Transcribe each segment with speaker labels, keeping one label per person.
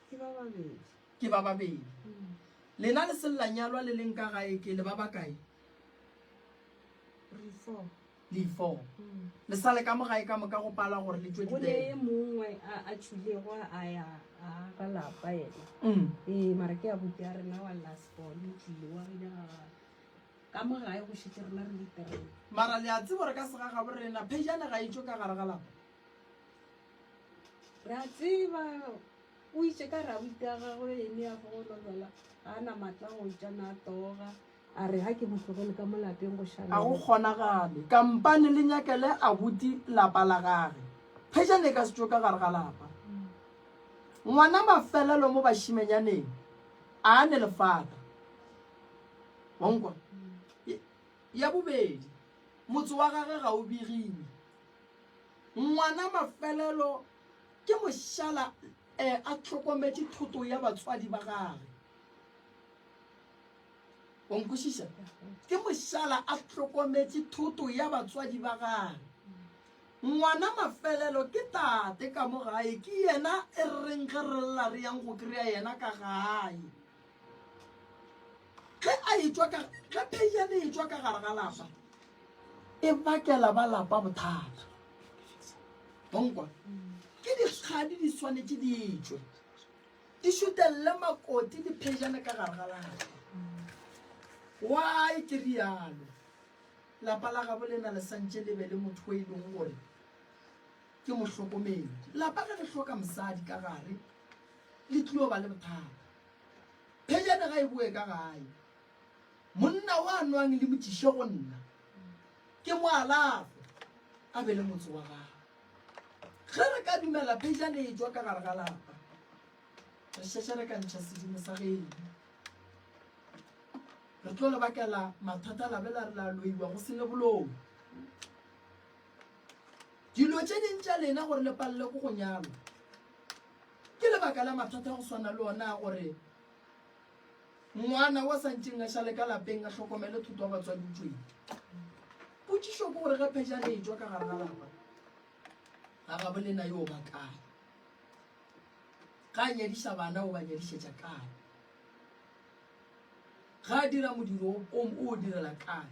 Speaker 1: Ke ba babedi. Ke ba babedi. Mm. Lena le sella nyalwa le leng ka gae ke le ba ba kae? Re four. Le four. Mm. Le sale ka mo gae ka moka go pala gore le tšwe di bele. Go le mongwe
Speaker 2: a a tšhulego a ya a ga lapa yena. Mm. Ee mara ke a bupi a rena wa last born o tlile wa rena ka mo gae go šitse rena re le three. Mara le a tsebo re
Speaker 1: ka sega ga borena phejane ga itšwe ka gare ga lapa.
Speaker 2: Re a tseba o itše ka rabuti ya gagwe ene ya fogolobela ga a na matla go tša na a toga a re ga ke mo tlogele ka mo lapeng go ga go šala kgonagale
Speaker 1: kampane le nyakele abuti lapa la gage phejane e ka setšo ka gare ga lapa ngwana mafelelo mo bašimenyaneng a ne lefata wankwa ya bobedi motse wa gage ga o begile Ngwana mafelelo ke mošala e a hlokometše thoto ya batswadi ba gage. O nkwešiša? Ke mošala a hlokometše thoto ya batswadi ba gage. Ngwana mafelelo ke tate ka mo gae, ke yena e reng ge re lla re yang go kry-a yena ka gae. ge a etšwa ka ge pheiane e tšwa ka gare ga lapa e bakela ba lapa bothata bonkwa ke dikgadi di swanetše di etšwe di šutelele makoti di pheiane ka gare ga lapa why ke rialo lapa la gabo le na le santše le be le motho o e leng gore Ke mohlokomedi. Lapa ge le hloka mosadi ka gare, le tlio ba le bothata. Phejane ga e boe ka gae. Monna o a nwang le mo tšiše go nna, ke mo alafe, a be le motse wa gagwe. Ge re ka dumela phejane e tšwa ka gare ga lapa, re šetše re ka ntšha sedimo sa geno. Re tlo le bakela mathata la be la re la loiwa go se ne bolomo. Dilo tše ding tša lena gore le palelwe ke go nyalwa ke lebaka la mathata go swana le ona a gore ngwana wa santšeng a šale ka lapeng a hlokomele thoto wa batswadi o tšweng potšišo ke gore ge phejane e tswa ka gare ga lapa ga gabo lena yo ba kae ga a nyadiša bana o ba nyadišetša kae ga a dira modiro o o direla kae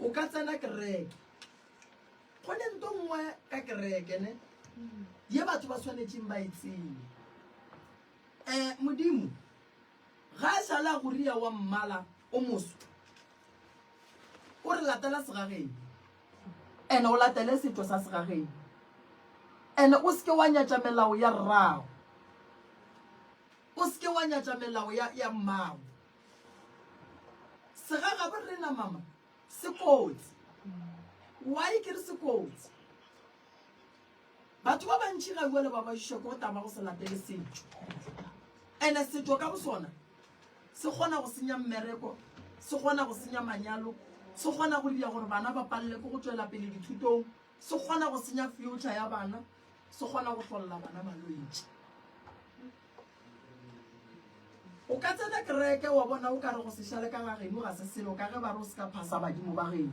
Speaker 1: o ka tsena kereke go ne nto nngwe ka kereke ne ye batho ba tshwanetseng ba e tsene um modimo ga e sale a goria wa mmala o moso o re latela segageng and o latele setho sa segageng and o seke wa nyatša melao ya rrago O se ke wa nyatša melao ya, ya mmago. Segagabo re na mama se kotsi. Why ke re se kotsi? Batho ba bantši ga uele ba bašišwa ke go tama go se latele setšo. Ene setšo ka bosona se kgona go senya mmereko, se kgona go senya manyalo, se kgona go dira gore bana ba palele ke go tšwela pele dithutong, se kgona go senya future ya bana. se kgona go hlolla bana malwetši o ka tsena kereke wa bona o ka re go sešale ka gageno ga se selo ka ge ba re o se ka phasa badimo ba geno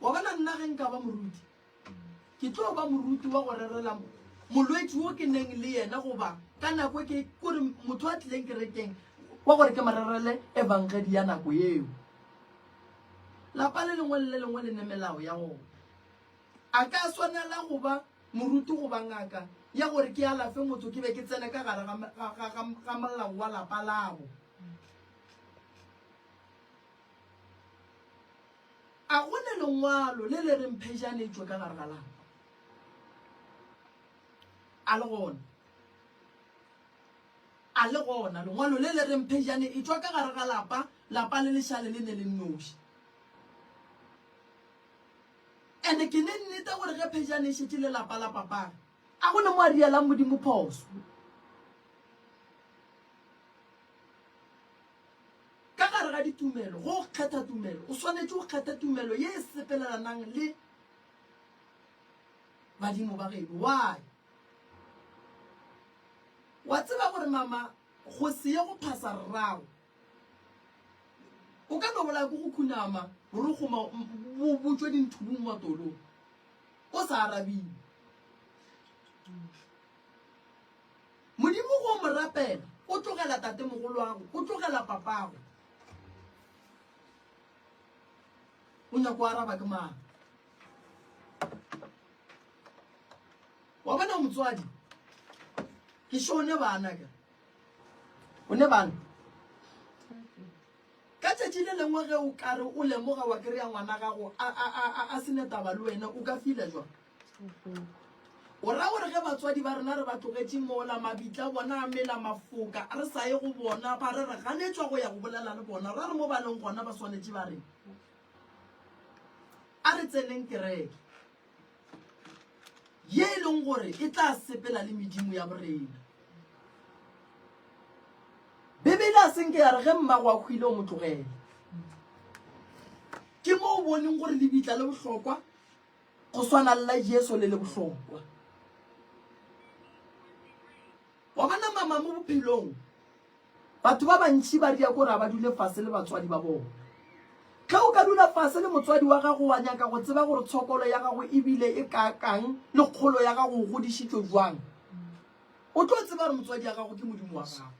Speaker 1: wa bona nna ge nka ba moruti ke tlo ba moruti wa go rerela molwetši wo ke neng le yena goba ka nako e ke kore motho a tlileng kerekeng wa gore ke mo rerele evangedi ya nako eo Lapa le lengwe le le lengwe le ne melao ya gona. A ka swanela go ba moruti goba ngaka ya gore ke alafe motho ke be ke tsene ka gare ga molao wa lapa labo? A go ne lengwalo le le reng phejane e tšwe ka gare ga lapa? A le gona? A le gona lengwalo le le reng phejane e tšwa ka gare ga lapa, lapa le lešale le ne le nnoši? And ke ne nnete gore ge phejane e šetše le lapa la papare, a go ne mo a rialang Modimo phoso? Ka gare ga ditumelo, go kgetha tumelo, o swanetše go kgetha tumelo ye e sepelelanang le badimo ba geno. Why? Wa tseba gore mama go se ye go phasa rrago o ka no bolaya ko go khunama borokgo ma bo botšwe dinthubung matolong o sa arabile. Modimo go mo rapela o tlogela tate mogoloago o tlogela papago o nyako araba ke mang. wa bona motswadi ke sho o ne bana ka o ne bana ka tšatši le lengwe ge o kare o lemoga wa kry-a ngwana gago a sene taba le wena o ka fila jwa o ra gore ge batswadi ba rena re ba tlogetše mola mabitla bona a mela mafoka re sa ye go bona ba re re ganetswa go ya go bolela le bona ra re mo ba leng gona ba swanetše ba reng A re tseneng kereke ye e leng gore e tla sepela le medimo ya borena. Bibele a senke ya re ge mmago a hwile o mo tlogele. Ke mo o boneng gore lebitla le bohlokwa go swana le la Jesu le le bohlokwa. Wa bona, mama, mo bophelong, batho ba bantši ba ria kore a ba dule fase le batswadi ba bona. Ge o ka dula fase le motswadi wa gago, wa nyaka go tseba gore tshokolo ya gago e bile e kaakang le kgolo ya gago o godišitšwe bjang. O tlo tseba gore motswadi ya gago ke Modimo wa gago.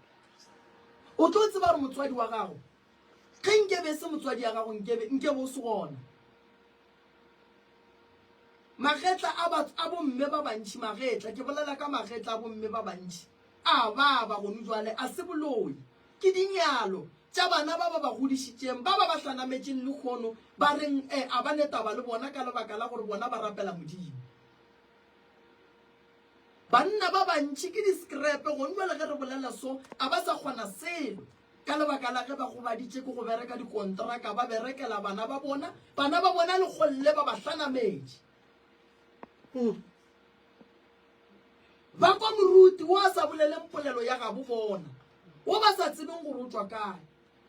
Speaker 1: O tlo tseba gore motswadi wa gago, ge nke be e se motswadi ya gago, nke be, nke be o se gona. Magetla a batho, a bomme ba bantši, magetla, ke bolela ka magetla a bomme ba bantši, a baba gonu bjale, a se boloi. Ke dinyalo tša bana ba ba ba godišitšeng, ba ba ba hlanametšeng lehono, ba reng e a ba ne taba le bona ka lebaka la gore bona ba rapela Modimo. Banna ba bantši ke diskrepe gonu bjale, ge re bolela so, a ba sa kgona selo. Ka lebaka la ge ba gobaditše ke go bereka dikontraka, ba berekela bana ba bona, bana ba bona le golle ba ba hlanametše. Hmm. Ba kwa moruti wo a sa boleleng polelo ya gabo bona, wo ba sa tsebeng gore o tšwa kae,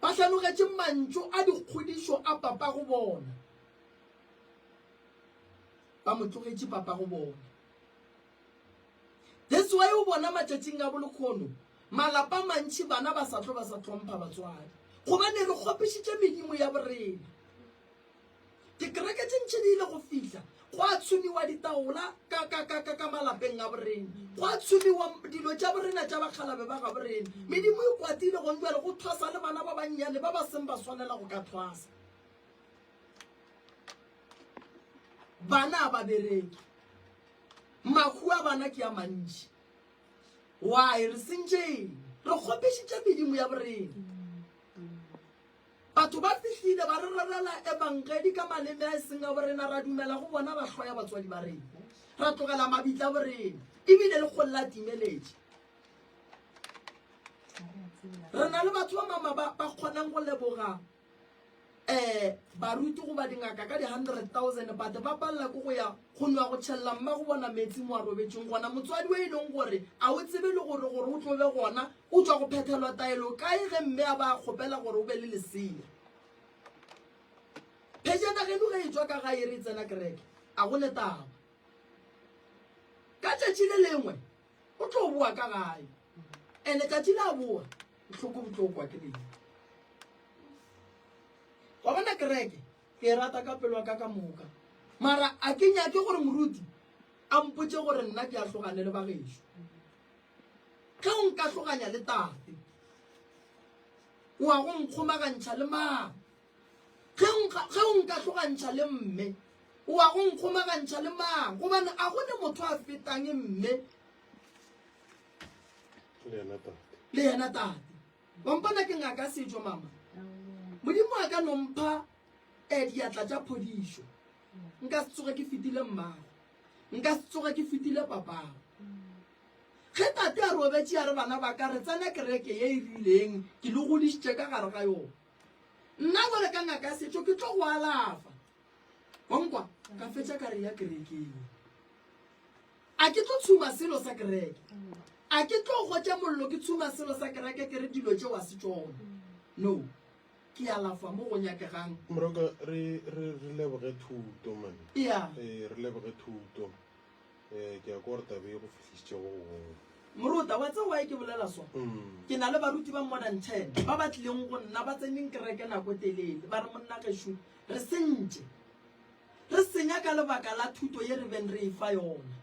Speaker 1: ba hlanogetše mantšu a dikgodišo a papago bona, ba mo tlogetše papago bona. That's why o bona matšatšing a bolekgono malapa mantši bana ba sa tlo ba sa tlhompha batswadi gobane re kgopišitše medimo ya borena. Dikereke tše ntši di ile go fihla go a tshomiwa ditaola ka, ka, ka, ka, ka malapeng a borena go a tshomiwa dilo tša borena tša bakgalabe ba ga borena. Medimo e kwatile gong jale go thwasa le bana ba bannyane ba ba seng ba swanela go ka thwasa. Bana ba bereke. Mahu a bana ke a mantši. Why? Re sentše eng? Re kgopešitše medimo ya borena. Batho ba fihlile ba re rerela ebangedi ka maleme a e seng a borena, ra dumela go bona ba hloya batswadi ba rena, ra tlogela mabitla borena ebile le kgolo la timeletše. Re na le batho ba mama ba kgonang go leboga eh baruti go ba dingaka ka di 100,000 but ba palela ko go ya go nwa go tšhelela mma go bona metsi mo a robetseng gona motswadi o e leng gore a o tsebe le gore gore o tlobe gona o tswa go phethelwa taelo kae ge mme a ba kgopela gore o be le lesea phejana geno ge e tswa ka ga e re e tsena kereke a go le taba ka tšatši le lengwe o tlo boa ka gae ene tsatsi la boa bohloko bo tlo kwa ke leng wa bona kereke ke e rata ka pelo ka ka moka mara a ke nyake gore moruti a mpotse gore nna ke a tlogane le bagešo ge o nka tloganya le tate o a go nkgomagantšha le mang Ge o nka, ge o nka hlogantšha le mme, o wa go nkgomagantšha le mang? Gobane a go ne motho a fetang mme Le yena tate. le yena tate. Wa mpona ke ngaka setšo, mama? Modimo a ka no mpha eh, diatla tša phodišo. Nka se tsoge ke fetile mmago. Nka se tsoge ke fetile papago. Ge tate a robetše a re, Bana ba ka, re tsena kereke ye e rileng, ke le godišitše ka gare ga yona. Nna bjale ka ngaka ya setšo ke tlo go alafa. Wa nkwa? Ka fetša ka re ya kerekeng. A ke tlo tshuma selo sa kereke. A ke tlo gotša mollo ke tshuma selo sa kereke ke re dilo tšeo a se tšona. No. Ke alafa mo go nyakegang. Moroka, re,
Speaker 3: re, re leboge thuto, man. Yeah. Eh, re
Speaker 1: leboge
Speaker 3: thuto. Ee, ke a kwa gore taba e go fihlišitše go gongwe. Moruta, wa
Speaker 1: tseba why ke bolela so? Ke na le baruti ba more than ten ba ba tlileng go nna ba tseneng kereke nako telele ba re, Monna Gešo, re sentše. Re senya ka lebaka la thuto ye re beng re e fa yona.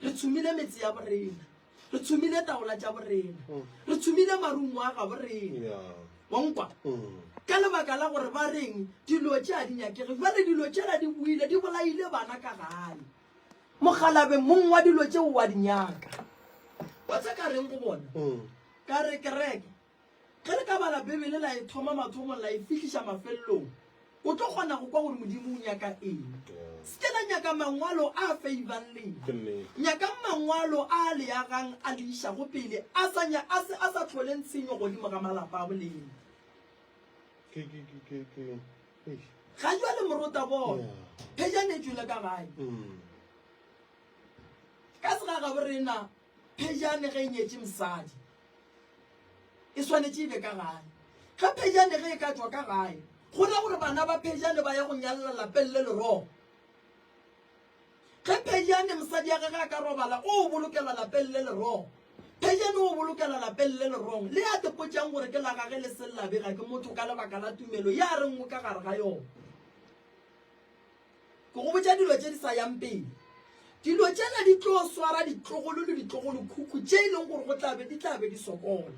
Speaker 1: Re tshomile metse ya borena. Re tshomile taola tša borena. Re tshomile marumo a gaborena. Yeah. Wa nkwa? Ka lebaka la gore ba reng dilo tše a di nyakege. Bjale dilo tšela di boile, di bolaile bana ka gae. Mokgalabje mong wa dilo tšeo wa di nyaka. Wa tsa ka reng go bona? Ka re, Kereke, ge le ka bala Bibele la e thoma mathomong la e fihliša mafelelong, o tlo kgona go kwa gore Modimo o nyaka eng. Se ke la nyaka mangwalo a feibang lena. Nyakang Mangwalo a a le agang a le išago pele, a sa, a se, a sa hloleng tshenyo godimo ga malapa a bolena. ga jwa le morota bona phejane e tšwele ka gae ka sega gabo rena phejane ge e nyetše mosadi e swanetše e be ka gae ge phejane ge e ka tswa ka gae go ra gore bana ba phejane ba ya go nyalela lapeng le lerogo Ge Phejane mosadi ya gage a ka robala, o o bolokela lapeng le lerong. Phejane o o bolokela lapeng le lerong, le a tepotšang gore ke la gage le seng la bega ke motho ka lebaka la tumelo ye a reng o ka gare ga yona. Ke go botša dilo tše di sa yang pele. Dilo tšela di tlo swara ditlogolo le ditlogolokhukhu tše e leng gore go tla be di tla be di sokola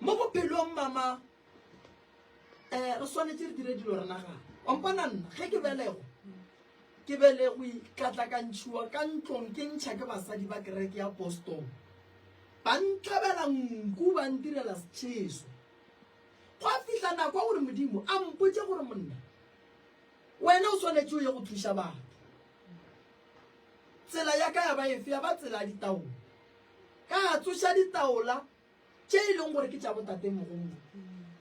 Speaker 1: mo bophelong bja ma. um re swanetse re dire dilo re nagana ompona nna ge ke belego ke belego itlatlakantšhiwa ka ntlong ke ntšha ke basadi ba kereke ya boston ba ntlabela nku ba ntirela setšheso gwa fihla nako gore modimo a mpotse gore monna wena o swanetse o ye go thuša batho tsela ya ka ya ba efe ya ba tsela ya ditaola ka tsoša ditaola tše e leng gore ke tša botatemogolo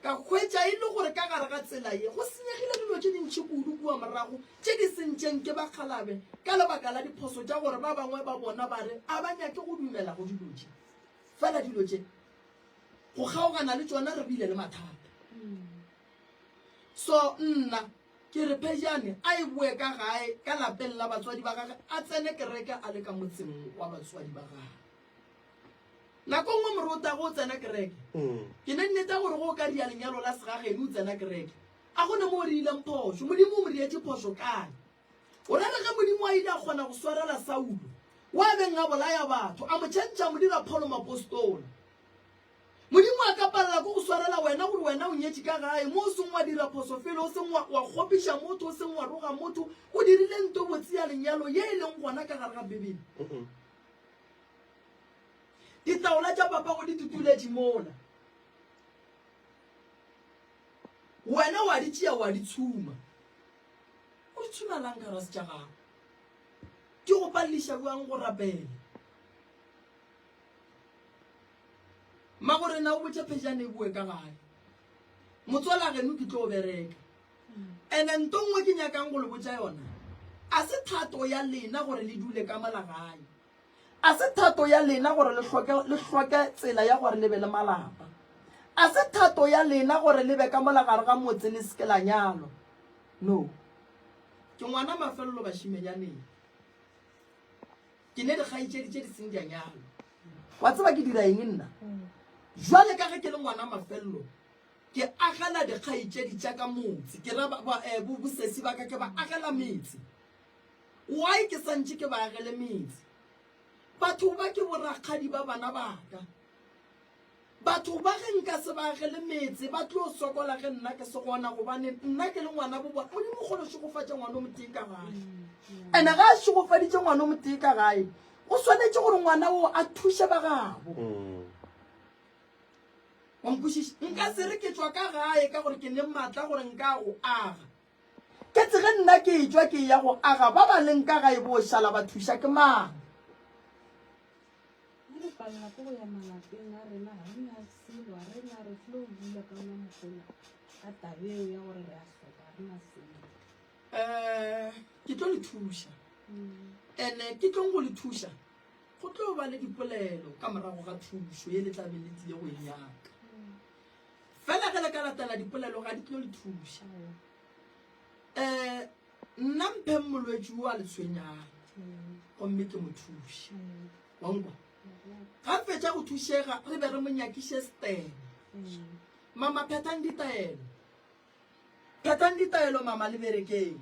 Speaker 1: ka hwetša e le gore ka gare ga tsela ye go senyegile dilo tše dintšhi kudu kua morago tše di sentšeng ke bakgalabe ka lebaka la diphoso tša gore ba bangwe ba bona ba re a ba nyake go dumela go dilo tše fela dilo tše go kgaogana le tšona re bile le mathata so nna ke re phejane a e boe ka gae ka lapeng la batswadi ba gage a tsene kereke a le ka motseng wa batswadi ba gage Nako nngwe more o tago o tsena kereke. Ke ne nneta gore go o ka ria lenyalo la segageno o tsena kereke. A go ne mo o riileng phošo? Modimo o mo rietše phošo kae? O ra re ge Modimo a ile a kgona go swarela Saulo, wo a beng a bolaya batho, a mo tšhentšha a mo dira Pholo moapostola. Modimo a ka palela ko go swarela wena gore wena o nyetše ka gae, mo o seng wa dira phoso felo, o seng wa, wa kgopiša motho, o seng wa roga motho, o dirile nto botse ya lenyalo ye e leng gona ka gare ga Bibele. Ditaola tša papago di tutuletše mola. Wena wa di tšea wa di tshuma. O di tshuma lang ka rase tša gago? Di go paleliša bjang go rapela? Magorena o botša Phejana e boe ka gae. Motswalageno ke tlo bereka. And-e nto nngwe ke nyakang go le botša yona, a se thato ya lena gore le dule ka mola gae. A se thato ya lena gore le hloke, le hloke tsela ya gore le be le malapa. A se thato ya lena gore le be ka mola gare ga motse le se ke la nyalwa. No. Ke ngwana mafelelo bašimenyaneng. Ke ne dikgaitšedi tše di seng di a nyalwa. Wa tseba ke dira eng nna? Jwale ka ge ke le ngwana mafelelo, Ke agela dikgaetšedi tša ka motse, ke ra bosesi ba ka ke ba agela metse. Why ke sa ntše ke ba agele metse? Batho ba ke borakgadi ba bana ba ka. Batho ba ge nka se ba agele metse ba tlo sokola ge nna ke se gona gobane nna ke le ngwana bo bona. Modimo kgolo o šegofatša ngwana o motee ka gae. Ene ga a šegofaditše ngwana o motee ka gae, o swanetše gore ngwana o a thuše ba gabo. Wa nkwešiša? Nka se re ke tšwa ka gae ka gore ke le matla gore nka go aga. Ke tsege nna ke etšwa ke ya go aga ba ba leng ka gae bo šala ba thuša ke mang?
Speaker 2: Re palela ke go ya malapeng a rena, ga re na selo, ga re na, re tlile go bula ka ona mokgona ka tabeo ya gore re a hloka, ga re na selo. Eh,
Speaker 1: ke tlo le thuša. Ene ke tlong go le thuša. Go tlo ba le dipolelo ka morago ga thušo ye le tla be le tlile go e nyaka. Fela ge le ka latela dipolelo ga di tlo le thuša. Um Nna mpheng molwetši wo a le tshwenyang gomme ke mo thuše. Wa nkwa? Ga re fetša go thušega re be re mo nyakiše setene. Mama phethang ditaelo. Phethang ditaelo mama le berekeng.